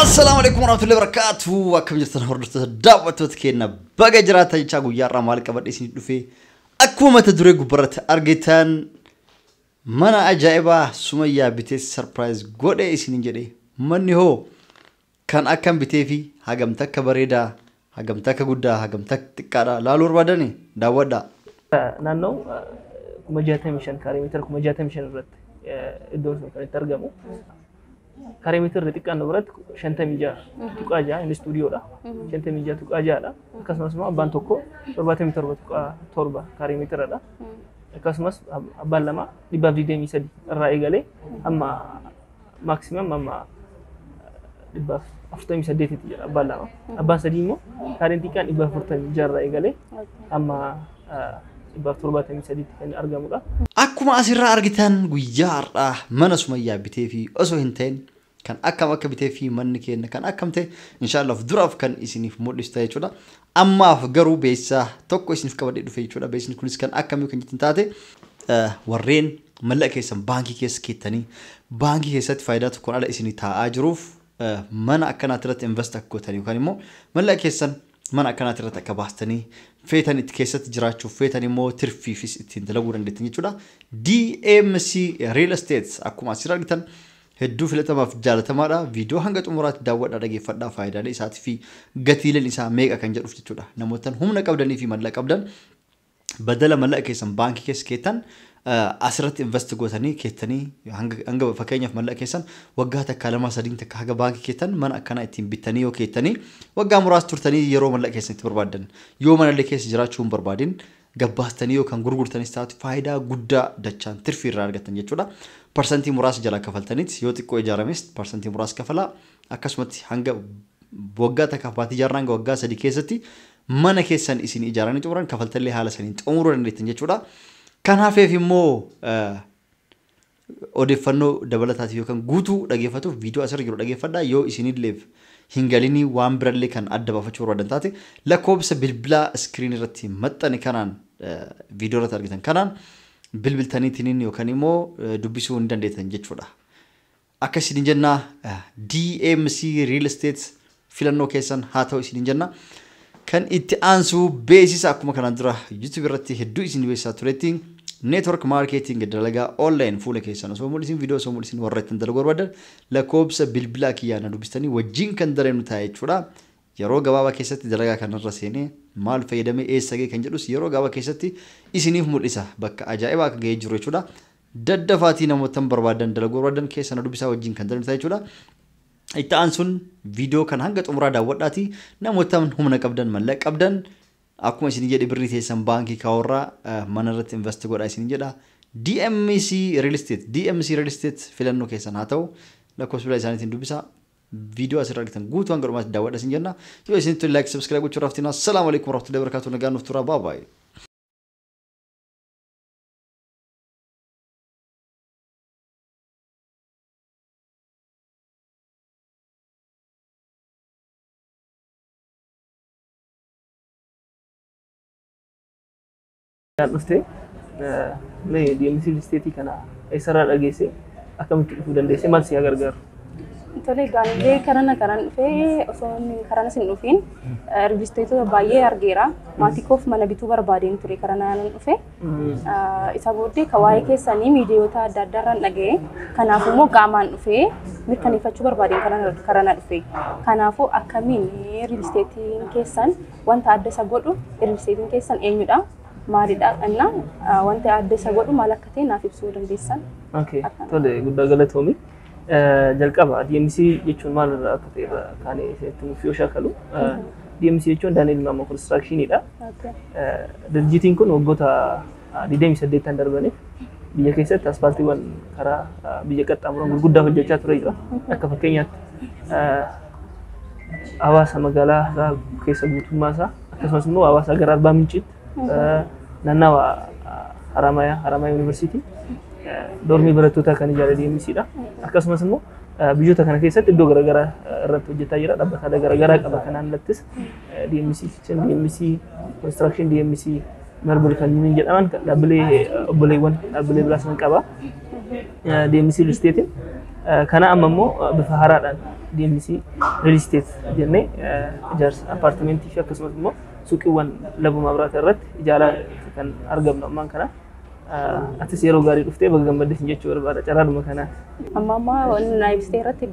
Assalaamu alaikum warahmatullahi wabarakatuh. Akkam jirtan hordoftoota daawwattoota keenya baga jiraatan jechaa guyyaa irraa maal qabadhe isin dhufee akkuma mata duree gubbarratti argitan mana ajaa'ibaa sumayyaa bitee sarpiraayiz godhe isin jedhe manni hoo kan akkan bitee fi hagamta akka bareedaa Hagam takka guddaa hagam takka xiqqaadha laaluu barbaadani daawwadhaa. Naannoo kuma jaatamii shan kaaree meetira kuma jaatamii shan irratti iddoon sun kan itti argamu. Kaaree meetirri xiqqaan nu biratti shantamii ja'a tuqaa ja'a inni istuudiyoodha. Shantamii ja'a tuqaa ja'adha. Akkasumas immoo abbaan tokko torbaatamii torba tuqaa torba kaaree meetiradha. Akkasumas abbaan lama dhibbaaf digdamii sadi irraa eegalee amma maximum amma dhibba afurtamii saddeetitti jira abbaan lama. Abbaan sadii immoo kaareen xiqqaan dhibba afurtamii jarra eegalee amma dhibba torbaatamii sadiitti kan argamudha. Akkuma asirraa argitan guyyaa har'aa mana sumayyaa bitee fi osoo hin ta'in kan akkam akka bitee fi manni keenya kan akkam ta'e inshaallah of duraaf kan isiniif mul'ista jechuudha. Ammaaf garuu beeksisa tokko isiniif qabadhee dhufe jechuudha. Beeksisni kunis kan akkamii kan jettan taate warreen mallaqa keessan baankii keessa keettanii baankii keessatti faayidaa tokkoon ala isinii taa'aa jiruuf mana akkanaatti irratti invest akka gootan yookaan immoo mallaqa keessan mana akkanaatti irratti akka baastanii feetan itti keessatti jiraachuuf feetan immoo tirfiifis ittiin dalaguu dandeettan jechuudha. DMC Real Estate akkuma asirra argitan Hedduu filatamaaf jaalatamaadha. Viidiyoo hanga xumuraatti daawwadhaa dhageeffadhaa faayidaalee isaatii fi gatiileen isaa meeqa kan jedhuuf jechuudha. Namoottan humna qabdanii fi mallaqa qabdan badala mallaqa keessan baankii keessa keettan asirratti invest gootanii keettanii hanga hanga fakkeenyaaf mallaqa keessan waggaa takkaa lamaa sadiin takka haga baankii keettan mana akkanaa ittiin bittanii yoo keettanii waggaa muraasa turtanii yeroo mallaqa keessan itti barbaaddan yoo manallee keessa jiraachuu hin barbaadin gabbaastanii yookaan gurgurtanis taatu faayidaa guddaa dachaan tirfii irraa argattan jechuudha. Parsantii muraasa jalaa kafaltaniit yoo xiqqoo ijaarames parsantii muraasa kafalaa akkasumatti hanga waggaa takkaaf baatii jaarraa hanga waggaa sadii keessatti mana keessan isin ijaaranii xumuran kafaltallee haala saniin xumuruu dandeettan jechuudha. Kan hafeef immoo Odeeffannoo dabalataatiif yookan guutuu dhageeffatuuf viidiyoo asirra jiru dhageeffadhaa. Yoo isinilleef hin galinii waan birallee kan adda baafachuu barbaadan taate lakkoobsa bilbilaa iskiriinii irratti maxxane kanaan viidiyoo irratti argitan kanaan bilbiltaniitiniin yookan immoo dubbisuu ni dandeettan jechuudha. Akka isin jennaa DMC Real Estate filannoo keessan haa ta'u isiniin jenna. Kan itti aansu beeksisa akkuma kanaan dura YouTube irratti hedduu isin beeksisaa turetti network marketing dalagaa online fuula keessan osoo mul'isin viidiyoo osoo mul'isin warra ittiin dalaguu barbaadan lakkoobsa bilbilaa kiyyaa na dubbistanii wajjin kan dalagnu ta'a jechuudha. Yeroo gabaabaa keessatti dalagaa kanarra seenee maal fayyadamee eessa ga'e kan jedhus yeroo gabaabaa keessatti isiniif mul'isa bakka ajaa'ibaa akka ga'ee jiru jechuudha. Daddafaatii namoottan barbaadan dalaguu barbaadan keessa na dubbisaa wajjin kan dalagnu ta'a jechuudha. Itti aansuun viidiyoo kana hanga xumuraa daawwadhaati namoota humna qabdan mallaqa qabdan akkuma isin jedhe birrii teessan baankii kaawwarraa mana irratti invest godha isin jedha. DMC Real Estate DMC Real Estate filannoo keessan haa ta'u lakkoofsa bilbilaa isaaniitiin dubbisa. Viidiyoo asirra argitan guutuu hanga dhumaatti daawwadha isin jenna. Yoo isin tole like subscribe gochuu irraa haftinaa. Salaamu alaikum warahmatullahi wabarakatuh nagaan nuuf turaa baa baay'ee. Kan dhufte mee deemsi listeetii kana eessarraa dhageesse akkamitti dhufuu dandeesse maal si haa gargaaru? Tole gaanilee karana kanan dhufee osoo inni karana sin dhufiin rijisteetota baay'ee argeera. Maatii koof mana bituu barbaadeen ture karana yaanan dhufe. Isa booddee ka waa'ee keessanii miidiyoota adda addaarraan dhaga'e. Kanaaf immoo qaamaan dhufee mirkaneeffachuu barbaadeen karaa na dhufe. Kanaafuu akkamiin riilisteetiin keessan wanta adda isa godhu riilisteetiin keessan eenyudha? Maalidha? Inna wanti adda isa godhu maal akka ta'e naaf ibsuu dandeessan? Okay. Tole guddaa galatoomi. Jalqaba DMC jechuun maal irraa akka ta'e irraa kaanee isinitti nuuf yoo shaakalu. DMC jechuun Daani'el Maammoo Konistiraakshiniidha. Dirjitiin kun waggoota 28 darbaniif biyya keessatti asfaaltiiwwan karaa biyya qaxxaamuran gurguddaa hojjechaa ture jira. Akka fakkeenyaatti hawaasa magaalaa isaa keessa guutummaa isaa akkasumas immoo hawaasa gara Arbaa Minciitti nannawa Haramaya Haramaya Yuunivarsiitii dormii barattoota kan ijaare DMC dha. Akkasumas immoo biyyoota kana keessatti iddoo garaagaraa irratti hojjetaa jira. Dhaabbataalee garaagaraa qaba kanaan alattis DMC Kitchen, DMC Construction, DMC Marble kan jedhaman dhaabbilee obboleewwan dhaabbilee biraas ni qaba. DMC Real Estate kana amma immoo bifa haaraadhaan DMC Real Estate jennee ijaarsa appaartimentii fi akkasumas immoo suuqiiwwan labu mabraata irratti ijaalaa kan argamnu ammaan kana. Atis yeroo gaarii dhuftee baga gammadde sin jechuu barbaada carraadhuma kanaan. Amma amma wanni naa ibsitee irratti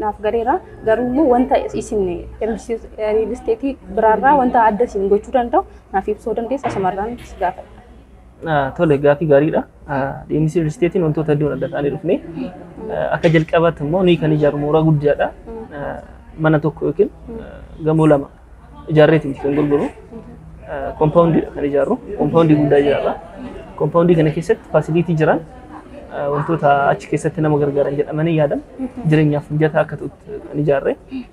naaf galeera. Garuu immoo wanta isin riilisteetii biraarraa wanta adda isin gochuu danda'u naaf ibsuu dandeessa asumarraan si gaafadha. Tole gaaffii gaariidha. Deemsi real estate wantoota hedduun adda ta'anii dhufne. Akka jalqabaatti immoo nuyi kan ijaarru mooraa guddaadha. Mana tokko yookiin gamoo lama ijaarreeti miti kan gurguru. Kompaawundiidha kan ijaarru. Kompaawundii guddaa ijaarra. Kompaawundii kana keessatti faasiliitii jiran wantoota achi keessatti nama gargaaran jedhamanii yaadan jireenyaaf mijataa akka ta'utti kan ijaarre.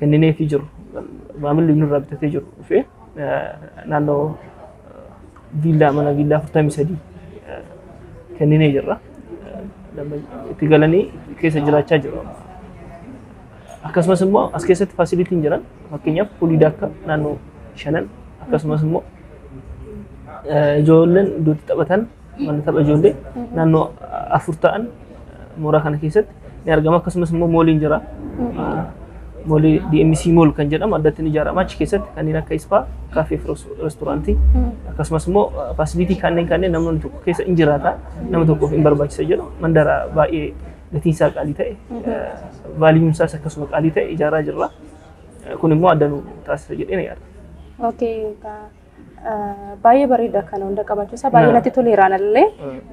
kennineefii jiru maamilli nurraa bitatee jiru dhufee naannoo viillaa mana viillaa 43 kenninee jirra. Itti galanii keessa jiraachaa jiru. Akkasumas immoo as keessatti faasilitiin jiran fakkeenyaaf fuulii daakka naannoo shanan akkasumas immoo ijoolleen iddootti taphatan mana tapha ijoollee naannoo afur ta'an mooraa kana keessatti ni argama akkasumas immoo mooliin jira. Moolii DMC Mool kan jedhamu addatti ni ijaarama achi keessatti kanneen akka ispaa kaafee fi restoraantii akkasumas immoo faasilitii kanneen kanneen namni tokko keessa in jiraata nama tokkoof in barbaachisa jedhu mandara baay'ee gatiin isaa qaalii ta'e vaaliyuun isaas akkasuma qaalii ta'e ijaaraa jirra. Kun immoo adda nu taasisa jedhee na yaada. Okay, Baay'ee bareeda kana hunda qabaachuusaa baay'ee natti toleera anallee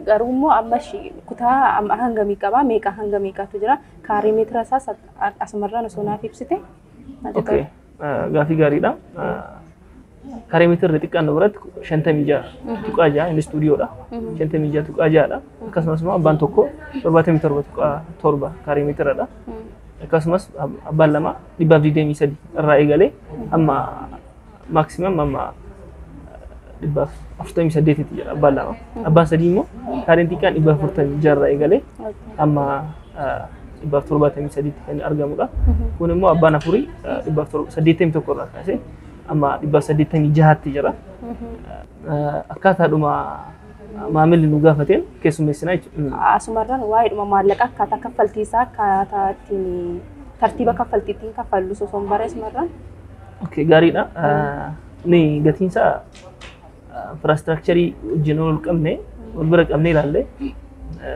garuu immoo amma shi- kutaa amma hangamii qabaa meeqa hanga meeqaatu jira kaarii meetira isaas at- asumarraan osoo naaf ibsite natti Okay. tola. Ah, Gaaffii gaariidha. Ah, Karee mitirri xiqqaan biratti shantamii ja'a tuqaa ja'a inni istuudiyoodha. Shantamii ja'a tuqaa ja'adha. Akkasumas immoo abbaan tokko torbaatamii torba tuqaa torba karee mitiradha. Akkasumas ab- abbaan lama dhibbaaf digdamii sadi irraa eegalee amma maximum amma dhibba afurtamii saddeetitti jira abbaan lama. Abbaan sadii immoo kaareen xiqqaan dhibba afurtamii jarra eegalee amma dhibba torbaatamii sadiitti kan argamudha. Kun immoo abbaan afurii dhibba saddeettamii tokko irraa kaasee amma dhibba saddeettamii jahaatti jira. Akkaataadhuma maamilli nu gaafateen keessummeessinaa jechuudha. Asumarraan waa'eedhuma maallaqa akkaataa kaffaltii isaa akkaataa ittiin tartiiba kaffaltii ittiin kaffallu osoo hin barreessimarraan Okay, gaariidha. Ni gatiin isaa infiraastructurii wajjin ol qabne wal bira qabne ilaalle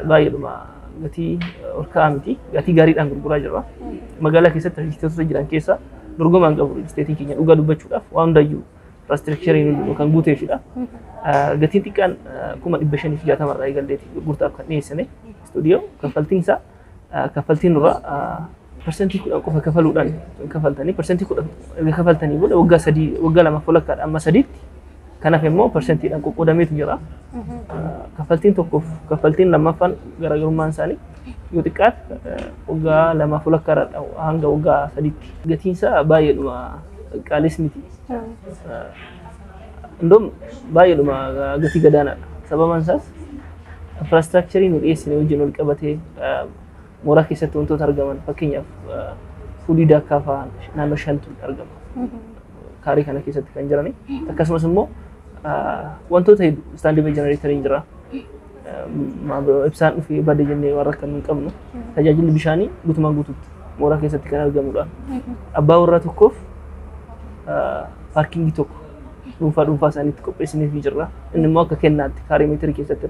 baay'eedhuma gatii ol ka'aa miti. Gatii gaariidhaan gurguraa jirra. Magaalaa keessatti rijisteetota jiran keessaa dorgomaa hin qabu rijisteetiin keenya dhugaa dubbachuudhaaf waan hundayyuu infiraastructuriin hundinuu kan guuteefidha. Gatiin xiqqaan kuma dhibba shanii fi jaatama irraa eegalleeti gurgurtaaf kan dhiyeessine istuudiyoo kaffaltiin isaa kaffaltii nurraa parsantii kudhan qofa kafaluudhaan kafaltanii parsantii kudhan erga kafaltanii booda waggaa sadii waggaa lamaaf walakkaadha amma sadiitti kanaaf immoo parsantiidhaan qoqqoodameetu jira. Kaffaltiin tokkoof kaffaltiin lammaffaan garaagarummaan isaanii yoo xiqqaate waggaa lamaaf walakkaadha hanga waggaa sadiitti gatiinsaa baay'eedhuma qaalis miti. Indoom baay'eedhuma gatii gadaanaadha. Sababaan isaas infraastiraakcharii nu dhiyeessine wajjin wal qabatee mooraa keessatti wantoota argaman fakkeenyaaf fuulii daakkaa fa'aa naannoo shantu argama. Kaarii kana keessatti kan jirani. Akkasumas immoo wantoota hedduu istaandii jenereetariin jira. ibsaan dhufee bade jennee waan rakkannu hin qabnu. Tajaajilli bishaanii guutumaan guututti mooraa keessatti kan argamudha. Abbaa warraa tokkoof paarkingii tokko dhuunfaa dhuunfaa isaaniitti qopheessiniif ni jirra. Inni immoo akka kennaatti kaarii meetirii keessatti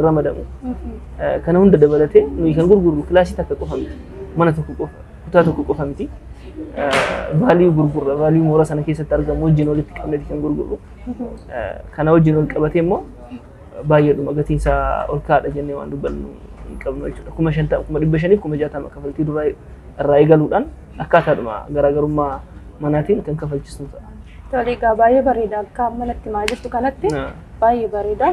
ramadamu. Kana hunda dabalatee nuyi kan gurgurru kilaasii takka qofa miti. Mana tokko qofa, kutaa tokko qofa miti. Vaaliyuu gurgurra, vaaliyuu mooraa sana keessatti argamu wajjin walitti qabneeti kan gurgurru. Kana wajjin wal qabatee immoo baay'eedhuma gatiin isaa ol ka'aadha jennee waan dubbannu hin qabnu jechuudha. Kuma shantama, kuma dhibba shaniif kuma jaatama kafaltii duraa irraa eegaluudhaan akkaataadhuma garaagarummaa manaatiin kan kafalchisnu ta'a. Tole egaa baay'ee bareeda akka amma natti himaa jirtu kanatti Na- baay'ee bareeda.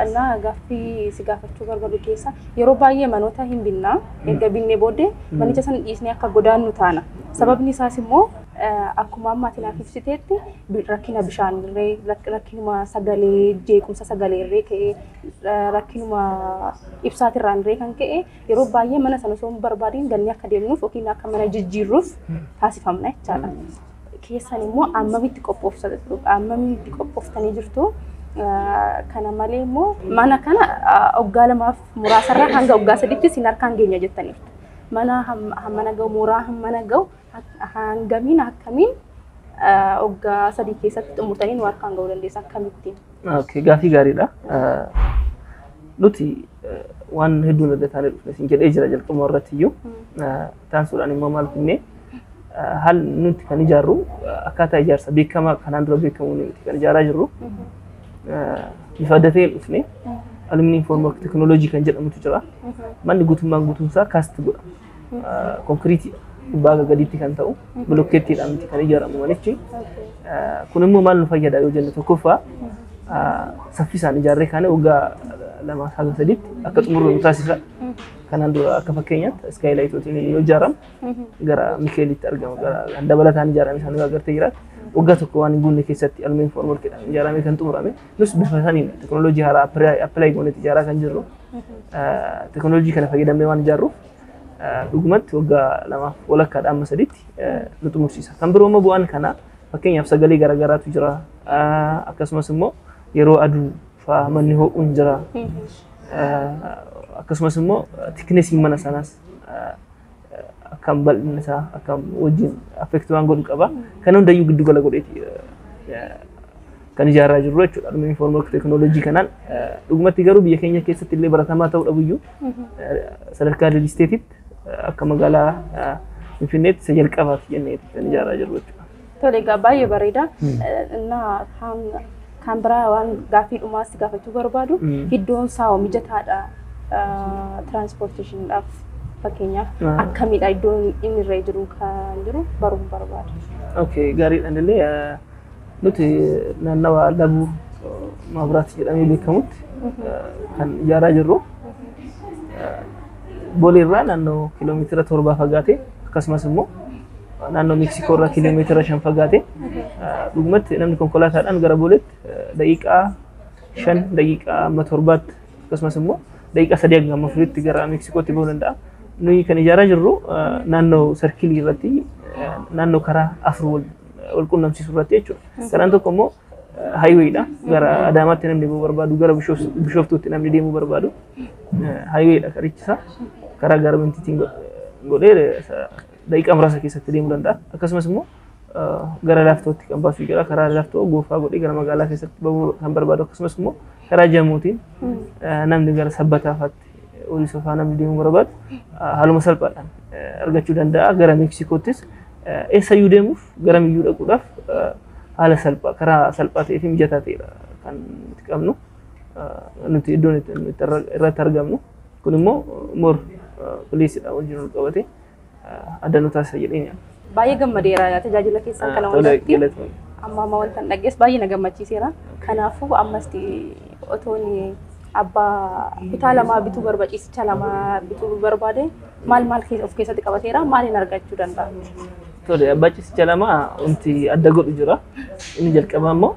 Innaa gaaffii si gaafachuu barbaadu keessa yeroo baay'ee manoota hin binnaa erga binnee booddee manicha sana dhiisnee akka godaannu taana. Sababni isaas immoo Akkuma amma ati naaf ibsiteetti rakkina bishaan irree, rakkinuma sagalee, jeequmsa sagalee irree ka'ee, rakkinuma ibsaatirraan irree kan ka'e yeroo baay'ee mana sana osoo hin barbaadiin gannee akka deemnuuf yookiin akka mana jijjiirruuf taasifamna jechaadha. Keessan immoo ammamitti ammamitti qophooftanii jirtu? Kana malee immoo mana kana waggaa lamaaf muraasarraa hanga waggaa sadiitti isin harkaan geenya jettaniirtu. Mana hammana ga'u, mooraa hammana ga'u Ahaan gamiin akkamiin waggaa sadii keessatti xumurtanii nu harkaan ga'uu dandeessa akkamittiin? Okay, gaafii gaariidha. Nuti waan hedduun hojjetaanii dhufne isin jedhee jira jalqabuma irratti iyyuu. Taasisuudhaan immoo maal finnee haal nuti kan ijaarru akkaataa ijaarsa beekamaa kanaan dura beekamuun nuti kan ijaaraa jirru bifa adda ta'een dhufne aluminium formwork teknooloojii kan jedhamutu jira. Manni guutummaan guutuunsaa kaasti godhama. konkiriitii gubbaa haga gadiitti kan ta'u bilokkeettiidhaan miti kan ijaaramu manichi. Kun immoo maal nu fayyada yoo jennu tokkoffaa saffisaan ijaarree kaanee waggaa lamaa haga sadiitti akka xumurru nu taasisa. Kanaan dura akka fakkeenyaatti iskaayilaayitootiin yoo ijaaramu gara Mikeelitti argamu gara kan dabalataan ijaarame sana yoo agartee jiraatu waggaa tokko waan hin guunne keessatti aluminium foormworkiidhaan ijaaramee kan xumurame. Nus bifa saniin teknooloojii haaraa appilaayi goonee ijaaraa kan jirru teknooloojii kana fayyadamnee waan ijaarruuf dhugumatti waggaa lamaaf walakkaadha amma sadiitti nu xumursiisa. Kan biroo immoo bu'aan kanaa fakkeenyaaf sagalee garaagaraatu jira akkasumas immoo yeroo aduu fa'aa manni ho'uun jira akkasumas immoo tiknesiin mana sanaas akkam bal'inni isaa akkam wajjin affektii waan godhu qaba. Kan hundayyuu giddu gala godheeti kan ijaaraa jirru jechuudha. Dhuma infoormeek teekinooloojii kanaan dhugumatti garuu biyya keenya keessatti illee baratamaa ta'uu dhabuyyuu sadarkaa riil isteetiitti akka magaalaa Finfinneetti isa jalqabaati jennee kan ijaaraa jirru jechuudha. Tole egaa baay'ee bareeda. Innaa kan kan biraa waan gaaffii dhumaa si gaafachuu barbaadu Mm. iddoon isaa hoo mijataadha tiraanspoorteeshiniidhaaf fakkeenyaaf Ah. akkamidha iddoon inni irra jiru kan jiru baruun barbaada. Okay, gaariidhaan illee eh, nuti naannawa Labuu eh, Maabiraat jedhamee beekamutti eh, kan ijaaraa jirru. Eh, Bolee irraa naannoo kiiloomeetira torbaa fagaatee akkasumas immoo naannoo Meeksikoo irraa kiiloomeetira shan fagaatee dhugumatti namni konkolaataadhaan gara Boleetti daqiiqaa shan daqiiqaa amma torbaatti akkasumas immoo daqiiqaa sadii hanga amma furiitti gara Meeksikootti bahuu danda'a. Nuyi kan ijaaraa jirru naannoo sarkilii irratti naannoo karaa afur wal qunnamsiisu irratti jechuudha. Karaan tokko immoo Haayiweedha. Gara Adaamaatti namni deemuu barbaadu, gara Bishooftuutti namni deemuu barbaadu. Haayiweedha karichi isaa. Karaa gaarmentiitiin godhee daqiiqaa muraasa keessatti deemuu danda'a. Akkasumas immoo gara laaftootti kan baasu jira. Karaa laaftoo goofaa godhee gara magaalaa keessatti bahuu kan barbaadu akkasumas immoo karaa jamuutiin namni gara sabbataa faatti horii sofaanaa deemuu barbaadu haaluma salphaadhaan argachuu danda'a. Gara Meeksikoottis eessayyuu deemuuf garamiyyuu dhaquudhaaf haala salphaa karaa salphaa ta'ee fi mijataa ta'edha kan nuti qabnu. Nuti iddoon itti irratti argamnu kun immoo mor piliisidha wajjin wal qabatee. adda nu taasisa jedhee yaada. Baay'ee gammadeera tajaajila keessan kana Tole hundatti. galatoon. Amma amma wanta hin dhaggees baay'ee na gammachiiseera. Kanaafuu ammas otoon abbaa kutaa lamaa bituu barbaade ciisicha lamaa bituu barbaade maal maal keessa- of keessatti qabateera maaliin argachuu danda'a? Tole abbaa ciisicha lama wanti adda godhu jira. Inni jalqabaa immoo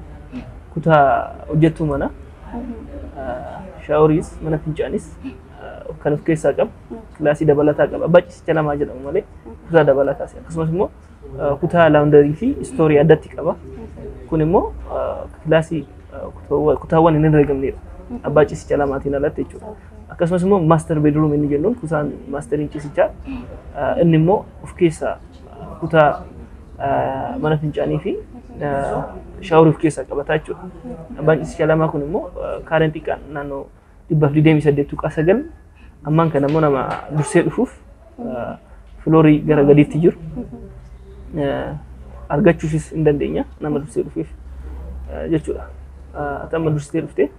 kutaa hojjettuu mana shaaworiis mana fincaanis kan of keessaa qabu. kilaasii dabalataa qaba. Baccisicha lamaa jedhamu malee kutaa dabalataas akkasumas immoo eh, kutaa laawundarii fi istoorii addatti qaba. Kun immoo eh, kilaasii eh, kutaawwan- kutaawwan hin herregamneedha. Abbaa ciisicha lamaatiin alatti jechuudha. Akkasumas immoo maaster beedruum inni jennuun kutaan maasteriin ciisichaa eh, inni immoo of keessaa eh, kutaa eh, mana fincaanii fi eh, shaaworii of keessaa qabata jechuudha. Abbaan ciisicha lamaa kun immoo eh, kaareen xiqqaan naannoo dhibbaaf digdamii saddeet tuqaa sagal ammaan kana immoo nama dursee dhufuuf filoorii gara gadiitti jiru argachuufis hin dandeenya nama dursee dhufeef jechuudha. Ati amma dursitee dhuftee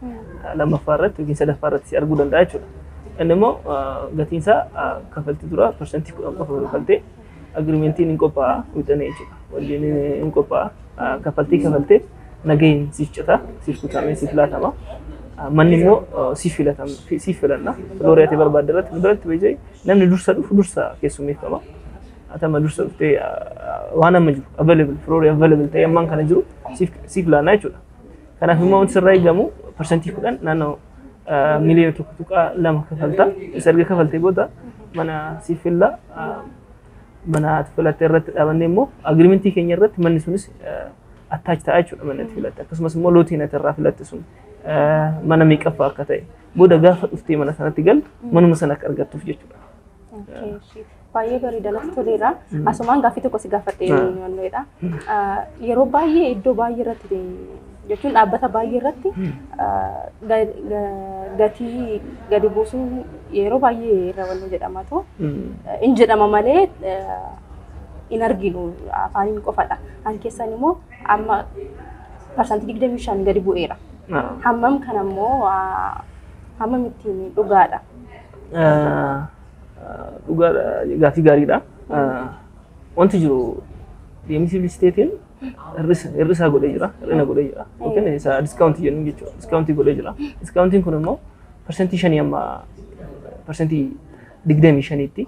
lammaffaa irratti yookiin sadaffaa irratti si arguu danda'a jechuudha. Inni immoo gatiinsaa kaffaltii dura parsantii kudhan qofa kafaltee Agreementiin hin qophaa'a wixinee jechuudha. Waliin hin qophaa'a. Kaffaltii kafaltee nagaheen siif cita, siif kutamee siif laatama. Manni immoo siif filatama, siif filanna. Filoorii ati barbaadde irratti biratti beekee namni dursa dhufu dursa keessummeeffama. Atama dursa dhuftee waan amma jiru available filoorii available ta'ee ammaan kana jiru siif laanna jechuudha. Kanaaf immoo wanti sirraa eegamu parsantii kudhan naannoo miliyoona tokko tuqaa lama kafalta. Isa erga kafaltee booda mana siif filla. Mana ati filatte irratti dhaabannee immoo agirimentii keenya irratti manni sunis attaachi ta'a jechuudha manni ati filatte. Akkasumas immoo lootiin ati irraa filatte sun mana meeqaffaa akka ta'e booda gaafa dhuftee mana sanatti galtu manuma sana akka argattuuf jechuudha. Baay'ee bareeda natti toleera. Asumaan gaaffii tokko si gaafadhee wannoodha. Yeroo baay'ee iddoo baay'ee irratti jechuun dhaabbata baay'ee irratti gatii gadi buusuun yeroo baay'ee irra wannoo jedhamatu in jedhama malee in arginu afaaniin qofadha. Kan keessan immoo amma parsantii digdamii shan gadi bu'eera. Hammam kana immoo hammam ittiin dhugaadha? Dhugaa gaaffii gaariidha. Wanti jiru deemsi bilisteetiin hir'isaa godhee jira, hir'ina godhee jira. Yookiin isa diskaawuntii jennu jechuudha. Diskaawuntii godhee jira. Diskaawuntiin kun immoo parsantii shanii amma parsantii digdamii shaniitti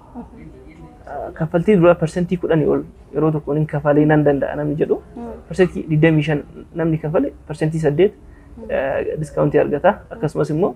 kaffaltii duraa parsantii kudhanii ol yeroo tokkoon hin kafalee nan danda'a namni jedhu parsantii digdamii shan namni kafale parsantii saddeet diskaawuntii argata. Akkasumas immoo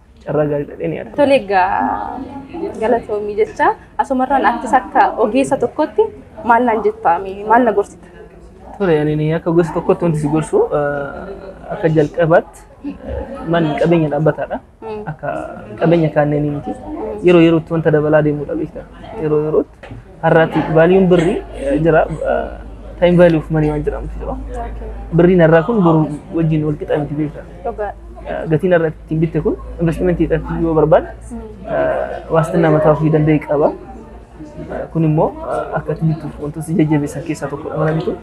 carraa gaarii dhadhee ni argama. Tole egaa galatoomii jecha asumarraan attis akka ogeessa tokkotti maal naan jettaa mee maal na gorsita? Tole ani akka ogeessa tokkotti wanti si gorsu eh, akka jalqabaatti eh, manni qabeenya dhaabbataadha. Mm. Akka qabeenya kaanneenii miti. Yeroo yerootti wanta dabalaa deemudha beektaa. Yeroo yerootti Har'aati vaaliin birrii jira taayim vaalii of manii waan jedhamutu jira. Birriin har'aa kun boru wajjin wal qixa miti beektaa. Dhugaa. Gatiin har'a ittiin bitte kun investimentii irratti yoo barbaade waastinaa mataa ofii danda'e qaba. Kun immoo akka itti bittuuf wantoota si jajjabeessan keessaa tokkodha mana bitu.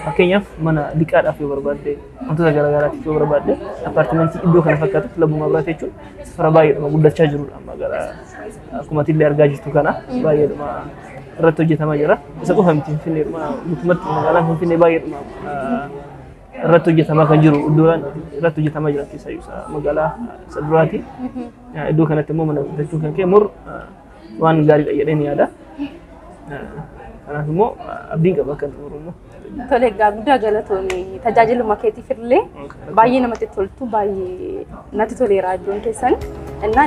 Fakkeenyaaf mana liqaadhaaf yoo barbaadde wantoota garaagaraatiif yoo barbaadde appaartimentii iddoo kana fakkaatu kilabuu mabraata jechuun safara baay'eedhuma guddachaa jirudha amma gara Akkuma atillee argaa jirtu kana baay'eedhuma irratti hojjetamaa jira. Isa qofa miti Finfinneedhuma guutumatti magaalaan Finfinnee baay'eedhuma ah, irratti hojjetamaa kan jiru iddoowwan irratti hojjetamaa jiran keessaa isa magaalaa isa duraati. Ah, Iddoo kanatti immoo mana guddachuu kan ka'e mur ah, waan gaariidha jedheen yaada. Ah, Kanaaf immoo ah, abdiin qaba akka xumuru immoo. Tole egaa guddaa galatoomi tajaajiluma keetiif illee baay'ee namatti toltu baay'ee natti toleera iddoon keessan. Innaa